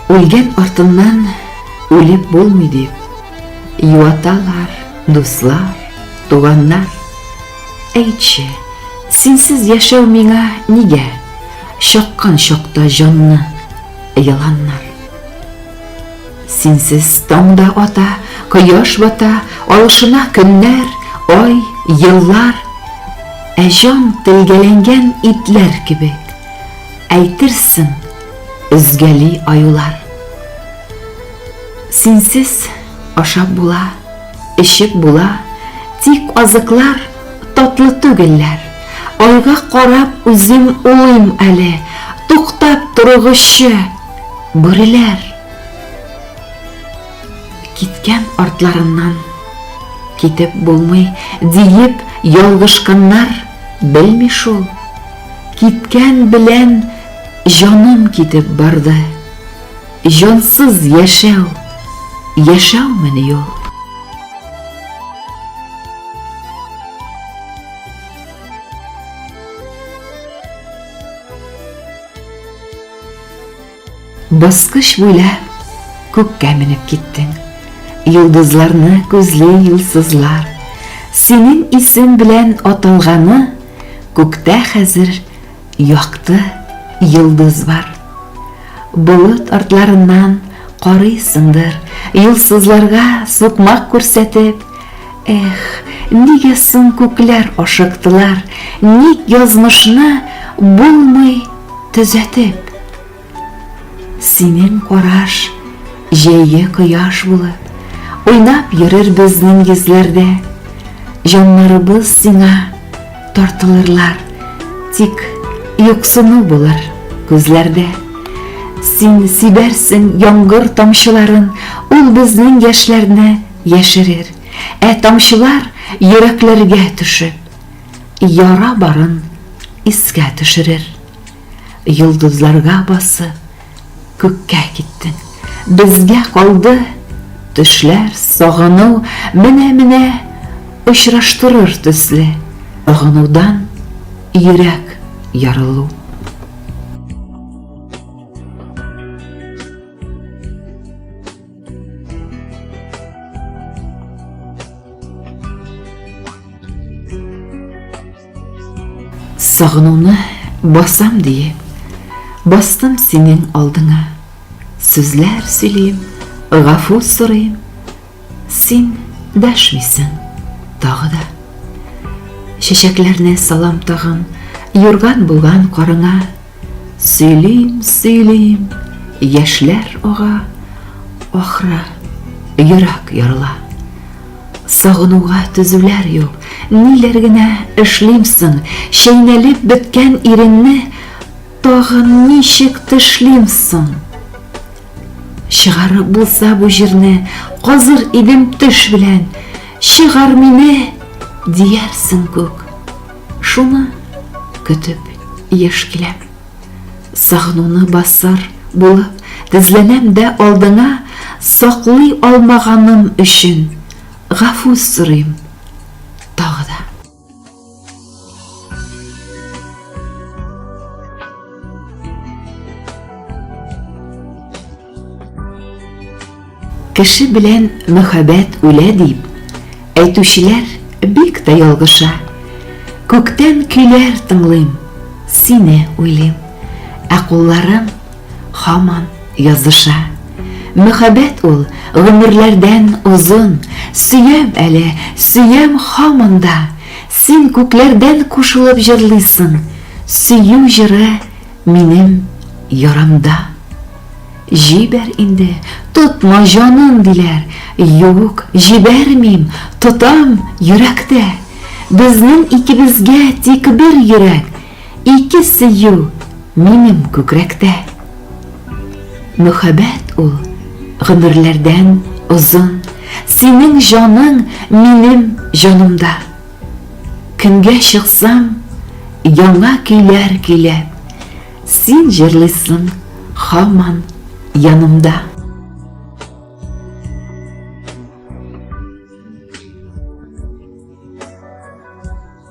Үлгән артыннан үлеп булмый дип, юаталар, дуслар, туганнар. Әйтче, синсез яшәү миңа нигә? Чаккан чакта җанны яланнар. Синсез таң да ата, кояш бата, алышына көннәр, ай, еллар. Ә җан телгәләнгән итләр кебек, әйтерсең, өзгәли аюлар. Синсез ашап була, эчеп була, тик азыклар татлы түгелләр. Айга карап үзем улыйм әле, туктап торыгызчы! Бүреләр! Киткән артларыннан китеп булмый, диеп ялгышканнар, белми шул. Киткән белән җаным китеп барды. Җансыз яшәү, яшәүмени ул? Баскыч буйлап күккә менеп киттең Йолдызларны күзли юлсызлар Синең исем белән аталганы Күктә хәзер якты йолдыз бар Болыт артларыннан карыйсыңдыр Юлсызларга сукмак күрсәтеп Эх, нигә соң күкләр ашыктылар, Ник язмышны булмый төзәтеп? Синең караш җәйге кояш булып, Уйнап йөрер безнең йөзләрдә. Җаннарыбыз сиңа тартылырлар, Тик юксыну булыр күзләрдә. Син сибәрсең яңгыр тамчыларын, Ул безнең яшьләрне Яшерер, ә тамчылар йөрәкләргә төшеп, яра барын искә төшерер. Йолдызларга басып, күккә киттең. Безгә калды төшләр, сагыну, менә-менә очраштырыр төсле. Сагынудан йөрәк ярылу. Сагынуны басам диеп, бастым синең алдыңа. Сүзләр сөйлим, гафу сорыйм. Син дәшмисең тагы да. Чәчәкләрне салам тагын, юрган булган карыңа. Сөйлим, сөйлим, яшьләр ага, ахра, йөрәк ярыла. Сагынуга төзүләр юк, ниләр генә эшлимсең, чәйнәлеп беткән иренне тагын ничек тышлимсың? Чыгарып булса бу җирне, казыр идем төш белән, чыгар мине, диярсең күк, Шуны көтеп еш киләм. Сагынуны басар булып тезләнәм дә алдыңа саклый алмаганым өчен гафу сорыйм тагы да. Кеше белән мөхәббәт үлә дип, әйтүчеләр бик тә ялгыша. Күктән көйләр тыңлыйм, сине уйлыйм, ә кулларым хаман языша. Мөхәббәт ул гомерләрдән озын, сөям әле, сөям хаман да. Син күкләрдән кушылып җырлыйсың, сөю җыры Минем ярамда. Җибәр инде, тотма җанын, диләр. Юк, җибәрмим, тотам, йөрәктә. Безнең икебезгә тик бер йөрәк, Ике сөю минем күкрәктә. Мөхәббәт ул гомерләрдән озын, Синең җаның минем җанымда. Көнгә чыксам, яңа көйләр көйләп, Син җырлыйсын хаман янымда.